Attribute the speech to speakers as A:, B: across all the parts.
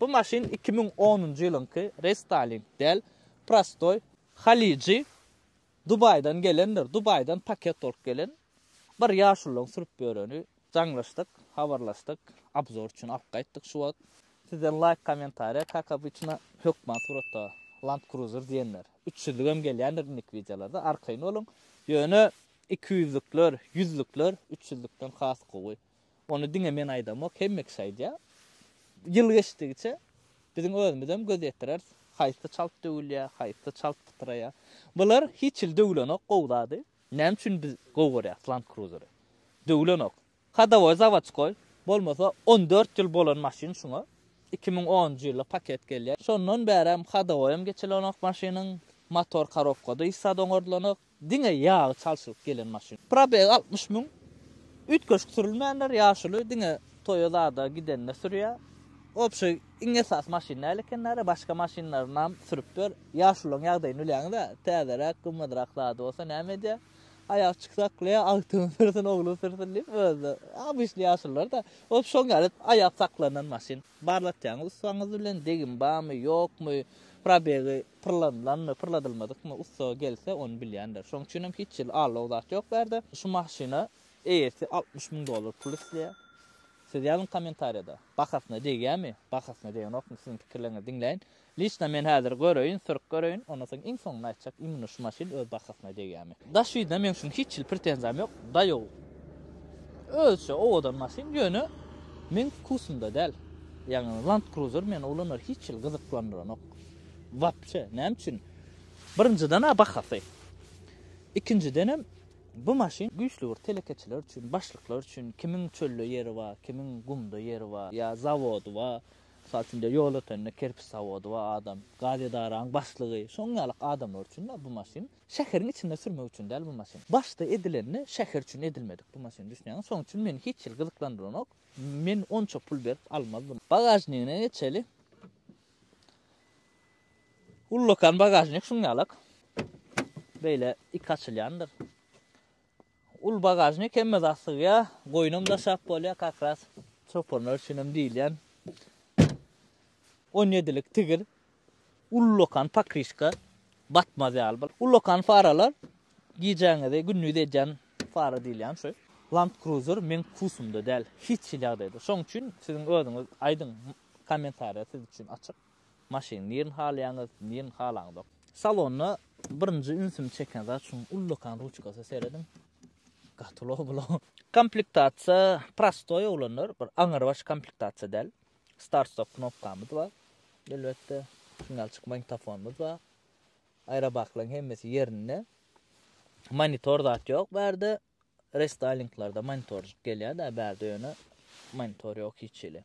A: Bu maşyn iki müň onunjy ýylyňky restyling däl, prostoý. Halyjy Dubaýdan gelendir, Dubaýdan paket bolup gelen. Bir ýaşulyň sürüp ýöreni. Jaňlaşdyk, habarlaşdyk, obzor üçin alyp gaýtdyk şu wagt. Sizden laýk kommentariýa kak obyçna hökman suratda Land Cruiser diýenler. Üç ýüzlügem gelýändir indiki wideolarda arkaýyn boluň. Ýöne iki ýüzlükler, ýüzlükler üç ýüzlükden has gowy. Ony diňe men aýdamok, hemme kişi aýdýar. Ýyl geçdigiçe biziň özümizem göz ýetireris, haýsy çalt döwülýär, haýsy çalt pytraýar. Bular hiç hili döwlenok gowy zady. Näme üçin biz gowy görýäris Land Cruiser-y? Döwlenok. Hadowoý zawoçkoý, bolmasa on dört ýyl bolan maşyn şuňa. Iki müň onunjy ýylda paket gelýär. Şondan bärem hadowoýam geçilenok maşynyň. Motor korobkada hiç zat oňardylanok. Diňe ýagy çalşylyp gelen maşyn. Probeg altmyş müň. Üýtgeşik sürülmänler, ýaşuly diňe toýa zada gidende sürýä. Obşy iň esasy maşyn däl ekenlere başga maşynlarynam sürüp ber. Ýaşulylaň ýagdaýyny bilýäňizä, täzeräk, gymmadrak zady bolsa näme edýä. Aýak çyk saklaýa, agtygyň sürsün, ogluň sürsün diýip özde obişli ýaşulylarda ol şoň ýaly aýap saklanan maşyn. Barlatýaňyz ussaňyz bilen degim barmy, ýokmy, probegi Pyrladylanmy, pyrladylmadykmy ussa gelse, ony bilýändir. Şonuň üçinem hiç hili allawuk zat ýok bu ýerde. Şu maşyna eýesi altmyş müň dollar pul isleýär. Siz ýazyň kommentariýada, bahasyna degýärmi, bahasyna degenokmy, siziň pikirleriňizi diňläýin. Liçna men häzir göreýin, sürüp göreýin, ondan soň iň soňunda aýtjak, imенно şu maşyn öz bahasyna degýärmi. Daş ýüzüne meň üçin hiç hili pretenziýam ýok, daýow. Özüçe owadan maşyn, ýöne meň wkusymda däl. Ýagny Land Cruiser meni ulanar hiç hili gyzyklandyranok. Wapçe näme üçin? Birinjiden-ä bahasy. Ikinjidenem bu maşyn güýçli bir telekeçiler üçin, başlyklar üçin, kimiň çölde ýeri bar, kimiň gumda ýeri bar, ýa zawody bar. Mysal üçin diýe ýol ötende kerpiç zawody bar adam, gaz edaranyň başlygy, şoň ýaly adamlar üçin-ä bu maşyn. Şäheriň içinde sürmek üçin däl bu maşyn. Başda edilende şäher üçin edilmedik bu maşyn düşnýäňmi? Şoň üçin meni hiç hili gyzyklandyranok. Men onça pul berip almazdym. Bagažnigine geçeli. Ullakan bagažnik şuň ýalak. Beýle iki açylýandyr. Ul bagažnik hemme zat sygýar, goýunam daşap bolýar, kakras çopanlar üçin hem diýilýän. 17 lik tigir ullakan pakrişka batmaz ýaly bol. Ullakan faralar gijäňizi gündiz edýän fara diýilýän şu. Land Cruiser meň kusumda däl, hiç hili ýagdaýda. Şoň üçin siziň özüňiz aýdyň. Kommentariýa siz üçin açyk. Maşyny nirini halaýaňyz, nirini halaňyzok. Salonda birinji ünsümi çeken zat şunuň ullakan ruçkasy serediň. Gaty ulag bula. Komplektasiýa prostoý oglanlar, bir aňrybaş komplektasiýa däl. Start stop knopkamyz bar. Elbetde, signalçyk magnitofonymyz bar. Aýrabaklaryň hemmesi ýerinde. Monitor zat ýok bärde. Restaýlinglarda monitorjik gelýär-dä bärde ýöne monitor ýok hiç hili.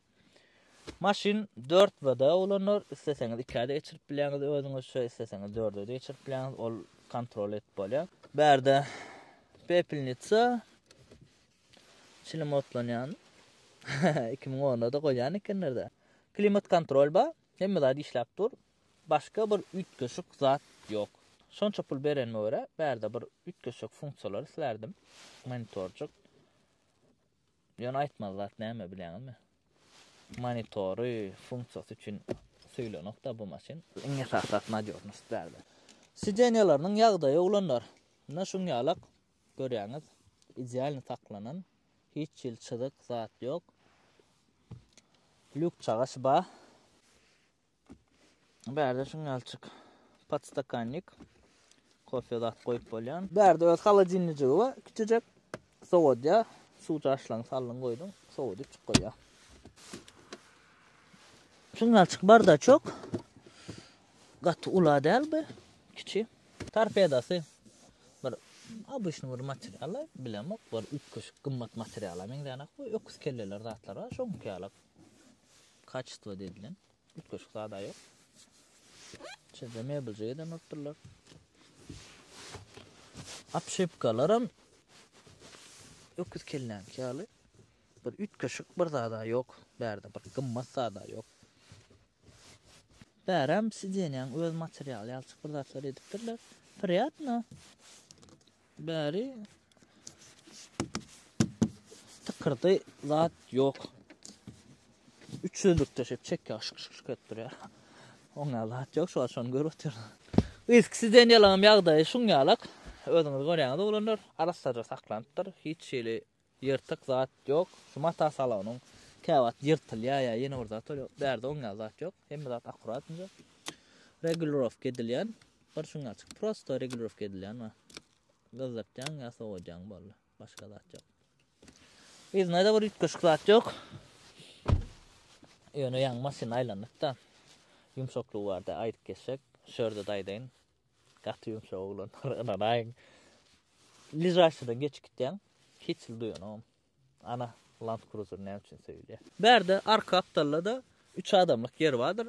A: Maşyn 4 VD ulanlar, isleseňiz 2-ä-de geçirip bilýäňiz özüňizçe, isleseňiz 4-e-de geçirip bilýäňiz, ol kontrol edip bolýar. Bärde pepelnitsa çilim otlanýan. 2010-da goýýan ekenler-dä. Klimat kontrol bar, hemme zat işläp dur. Başga bir üýtgeşik zat ýok. Şonça pul berenime görä, bärde bir üýtgeşik funksiýalar islärdim. Monitorjyk. Ýöne aýtmaly zat näme bilýäňizmi? Monitory, funksiýasy üçin söýlenokda bu maşyn. Iň esasy zat nadýožnost bärde. Sideniýalarynyň ýagdaýy oglanlar, ynha şuň ýalak, görýäňiz, idealny saklanan, hiç hili çyzyk zat ýok. Lýuk çagaş ba. Bärde şuňňalçyk podstakannik kofe zat goýup bolýan. Bärde öz holodilnijigi we kiçijek sowodýa suw çaşlaň saldyň goýduň, sowodyp çyk goýýar. Şuňňalçyk bardaçok. Gaty ula däl bu, kiçi. Torpedasy bir obyçny bir material, bilemok, bir üýtgeşik gymmat materiala meňzänok, bu öküz kelleler zatlar bar, şoňky ýalak. kaçestwo dedilen üýtgeşik zada ýok. Içinde mebeljik eden otdurlar. Apşepkalaram öküz kelläňki ýaly bir üýtgeşik bir zada ýok. Bärde bir gymmat zada ýok. Bäräm sidenýäň öz materialy ýalçyk bir zatlar edipdirler. Priýatno. Bäri tykyrdy zat ýok. Üç ýüzlükde şep çekýär, şyk şyk şyk edip durýar. Oňa zat ýok, şu şony görüp otyryn. Yzky Deniýeliň ýagdaýy şuň ýalak. Özüňiz görýäňiz oglanlar, arassaja saklanypdyr, hiç hili Ýyrtyk zat ýok. Şu mata salonyň käwagt ýyrtylýar ýa ýene bir zat bolýar. Bärde oň ýaly zat ýok. Hemme zat akkurat inje. Regulirowka edilýän bir şuňňaçyk prosta regulirowka edilýän bar. Gyzdyrtýaň ýa sowadýaň boldy. Başga zat ýok. Yzyna-da bir üýtgeşik zat ýok. Ýöne ýaňy maşyn aýlanypda. Ýumşaklygy barda aýdyp geçsek, şu ýerde-de aýdaýyn. Gaty ýumşak oglanlar ynanaýyň. Ližaşydan geçip gitýäň. Hiç hili duýanogam. Ana, Land Cruiser näme üçin söýülýär? Bärde arka gapdalda-da üç adamlyk ýer bardyr.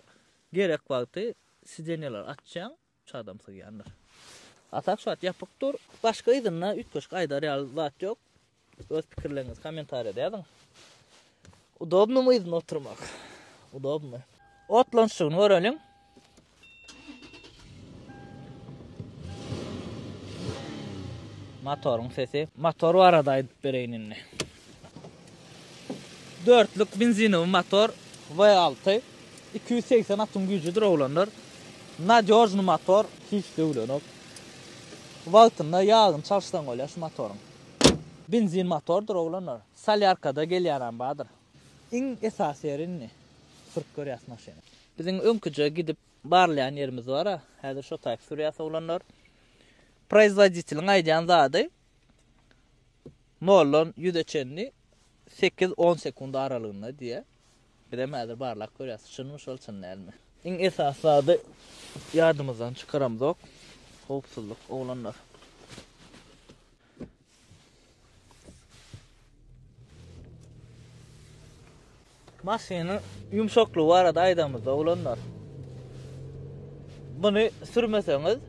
A: Gerek wagty sidenýeleri açýaň, üç adam sygýandyr. A tak şu wagt ýapyk dur. Başga yzynda üýtgeşik aýdar ýaly zat ýok. Öz pikirleriňizi kommentariýada ýazyň. Udobnymy yzynda oturmak? Udobny. Otlanşygyny göreliň. Motoryň sesi. Motor barada aýdyp bereýin indi. Dörtlük benzinowy motor V6. 280 atyň güýjüdir oglanlar. Nadýožny motor, hiç döwlenok. Wagtynda ýagyny çalyşsaň bolýar şu motoryň. Benzin motordyr oglanlar. Solýarkada gelýänam bardyr. Iň esasy ýeri indi sürüp görýäs maşyny. Biziň öňküje gidip barlaýan ýerimiz bara, häzir şo taýyp sürýäs oglanlar. Proizwoditeliň aýdýan zady noldan ýüze çenli sekiz-on sekund aralygynda diýýär. Bizem häzir barlap görýäs, çynmy şol, çyn dälmi. Iň esasy zady ýadymyzdan çykaramzok, howpsuzlyk, oglanlar. Maşynyň ýumşaklygy barada aýdamyzda, oglanlar. Muny sürmeseňiz,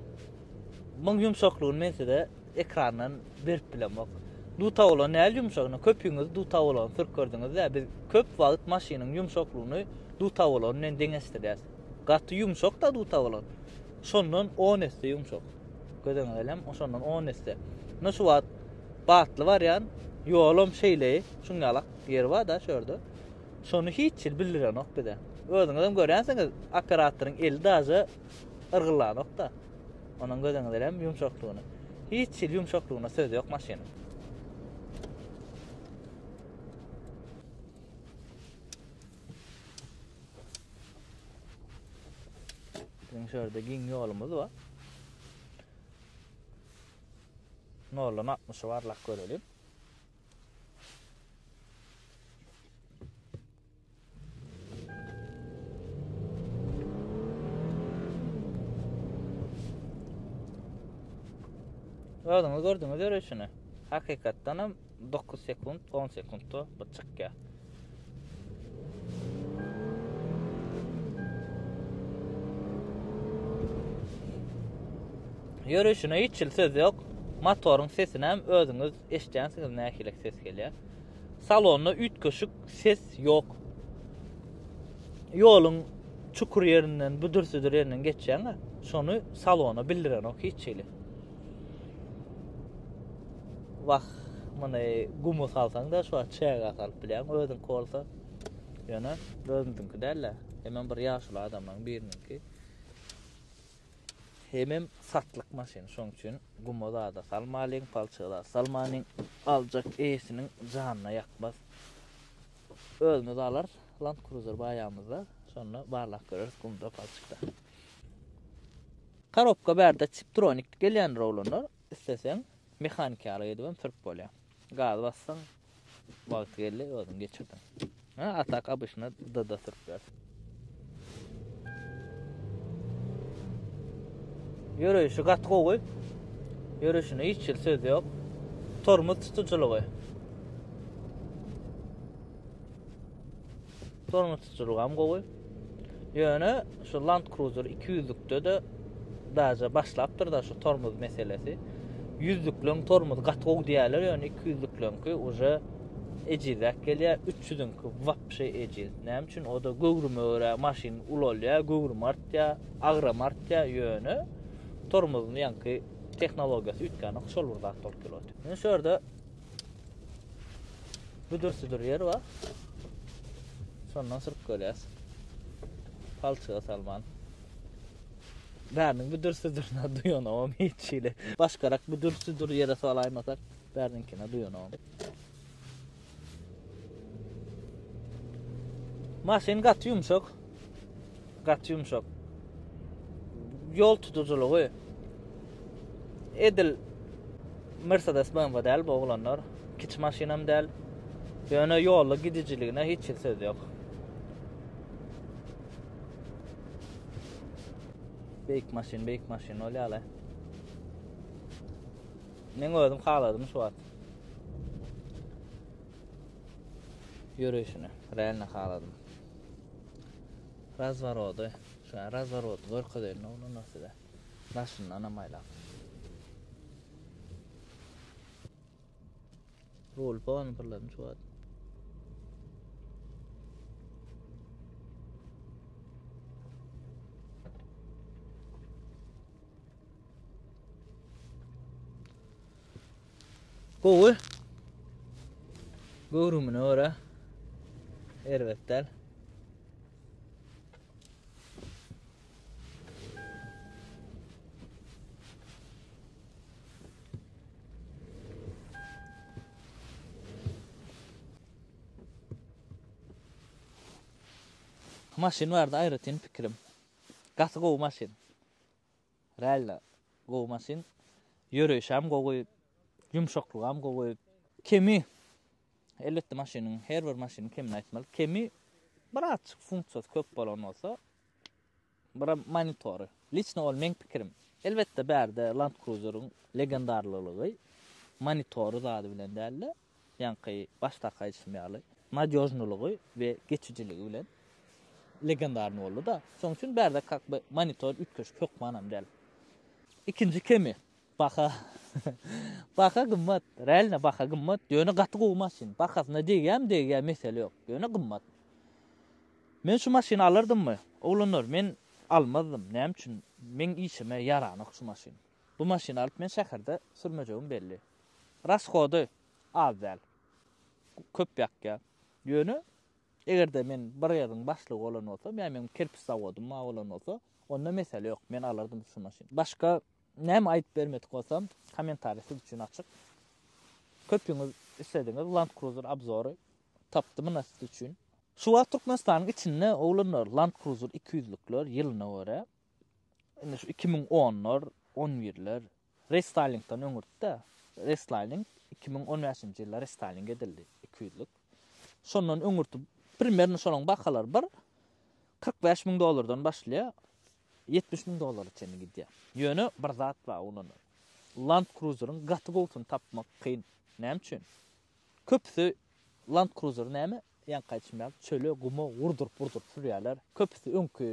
A: muň ýumşaklygyny men size Ekrandan berip bilemok. Dutabolan näl ýumşagyna köpüňiz dutabolany sürüp gördüňizä biz köp wagyt maşynyň ýumşaklygyny dutabolan bilen deňeşdirýäs. Gaty ýumşakda dutabolan. Şondan on esse ýumşak. Gözeňize ilem oşondan on esse. Ine şu wagt batly barýan ýolam şeýleý şuň ýalak ýeri barda şu ýerde. Şony hiç hil bildirenok bize. Özüňizem görýänsiňiz operatoryň eli daže yrgyllanok-da. Onuň göz öňünde hem ýumşaklygyny. Hiç hili ýumşaklygyna söz ýok maşynyň. Biziň şu ýerde giň ýolumyz bar. Noldan altmyşy barlap görelim. Özüňiz gördüňiz ýörüşini. Hakykatdan hem 9 sekund, 10 sekundda bu çykýar. Ýörüşine hiç il söz ýok. Motoryň sesini hem özüňiz eşitýänsiňiz nähili ses gelýär. Salonda üýtgeşik ses ýok. Ýoluň çukur ýerinden, büdür-südür ýerinden geçýäň-ä, şony salona bildirenok hiç hili. Wah, muny gumy salsaň-da, şu wagt çäge salyp bilýäň, özüňki bolsa, ýöne özümiziňki däl-ä, hemem bir ýaşuly adamlaryň biriniňki. Hemem satlyk maşyn, şoň üçin guma zada salmalyň, palçyga zat salmanyň, aljak eýesiniň janyna ýakmaz. Özümiz alarys, Land Cruiser baýamyzda, şonda barlap göreris gumda, palçykda. Karobka bärde Tiptronic gelýändir oglanlar, isleseň mehaniki ýaly edibem sürüp bolýar. Gaz basdyň. Wagty geldi özüň geçirdiň. Ha, atak abyşyna dada sürtler. Ýöreýşi gaty gowy. Ýöreýşine hiç hil söz ýok. Tormoz tutujylygy. Durmuşçylygam gowy. Ýöne şu Land Cruiser 200-lükde-de daýja başlapdyr-da şu tormoz meselesi. 100-lükleň tormozy gaty gowy diýýärler, ýöne 200-lükleňki uje ejizräk gelýär. 300-iňki wapşe ejiz. Näme üçin? O-da göwrüme görä maşyn ulalýar, göwrümi artýar, agramy artýar, ýöne tormozyň ýaňky tehnologiýasy üýtgänok, şol bir zat bolup durýar. Indi şu ýerde Büdür-südür ýer bar. Şondan sürüp gelýäs. Palçyga salman. Bäriniň büdür-südürine duýanogam hiç hili. Başgarak büdür-südür ýere salaýmasak, bäriniňkine duýanogam. Maşyn gaty ýumşak. Gaty ýumşak. Ýol tutujylygy edil Mercedes BMW däl bu oglanlar. Kiçi maşynam däl. Ýöne ýolda gidijiligine hiç hil söz ýok. Beýik maşyn, beýik maşyn ol ýaly. Men özüm haladym şu wagt. Ýörüşini, realno haladym. Razworody, şä razworodyny görkezeýin oglana size. Daşyndanam aýlap. Rul pon pyrladym şu wagt. Gowy. Göwrümine görä erbet däl. Maşyn barada aýratyn pikirim. Gaty gowy maşyn. Realno gowy maşyn. Ýöreýşem gowy. Ýumşaklygam gowy. Kemi, elbetde maşynyň, her bir maşynyň kemini aýtmaly. Kemi birazjyk funksiýasy köp bolan bolsa, biram monitory. Liçno ol meň pikirim. Elbetde bärde Land Cruiser-iň legendarlylygy monitory zady bilen däl-de. Ýaňky başdaky aýdyşym ýaly, nadýožnylygy we geçijiligi bilen legendarny boldy-da. Şonuň üçin bärde kak by monitor üýtgeşik hökmanam däl. Ikinji kemi, baha. Baha gymmat, realno baha gymmat, ýöne gaty gowy maşyn. Bahasyna degýämi degýä mesele ýok, ýöne gymmat. Men şu maşyny alardymmy? Oglanlar, men almazdym, näme üçin? Meň işime ýaranok şu maşyn. Bu maşyny alyp men şäherde sürmejegim belli. Rashody az däl. Köp ýakýa. Ýöne eger-de men bir ýeriň başlygy bolan bolsam, ýa meniň kerpiç zawodym bar bolan bolsa, onda mesele ýok, men alardym şu maşyny. Başga näme aýdyp bermedik bolsam, kommentariý siz üçin açyk. Köpüňiz islediňiz Land Cruiser obzory. Tapdym ynha siz üçin. Şu wagt Türkmenistanyň içinde oglanlar Land Cruiser iki ýüzlükler ýylyna görä, indi şu iki müň onlar, on birler, Restylingden öňürtde, restylling iki müň on bäşinji ýylda restylling edildi, iki ýüzlük. Şondan öňürti primerno şolaryň bahalary bir kyrk bäş müň dollardan başlaýar, ýetmiş müň dollara çenli gidýär. Ýöne bir zat bar, ol ondan Land Cruiser-iň gaty gowusyny tapmak kyn. Näme üçin? Köpüsi Land Cruiser näme? Ýaňky aýtşym ýaly, çöle, guma urduryp-urduryp sürýärler. Köpüsi öňki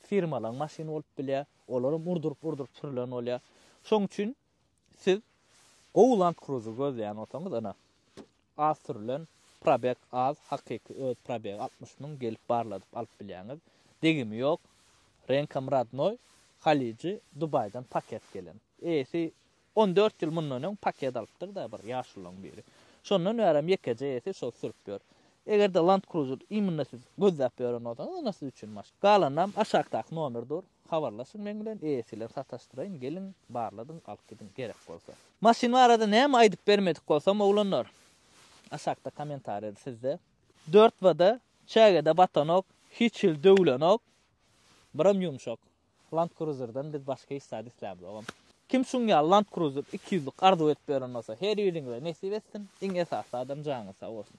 A: firmalaryň maşyny bolup bilýär. Olaram urduryp-urduryp sürlen bolýar. Şoň üçin siz gowy Land Cruiser gözleýän bolsaňyz, ine, az sürülen, probeg az, hakyky öz probegi altmyş müň, gelip barladyp alyp bilýäňiz. Degimi ýok, reňkam rodnoý, halyjy, Dubaýdan paket gelen. Eýesi on dört ýyl mundan öň paket alypdyr-da bir ýaşululaň biri. Şondan bärem ýekeje eýesi şol sürüp ýör. Eger-de Land Cruiser immunda siz gözläp ýören bolsaňyz onda siz üçin maşyn. Galanynam aşakdaky nomer dur, habarlaşyň meň bilen, eýesi bilen sataşdyraýyn, geliň, barladyň, alyp gidiň, gerek bolsa. Maşyn barada näme aýdyp bermedik bolsam oglanlar, aşakda komentariýada sizde dört wada, çägede batanok, hiç hili döwlenok, biram ýumşak. Land Cruiser-den biz başga hiç zat islämzogam. Kim şuň ýaly Land Cruiser iki ýüzlik arzuw edip ýören bolsa, her biriňize nesip etsin, iň esasy zadam janyňyz sag bolsun.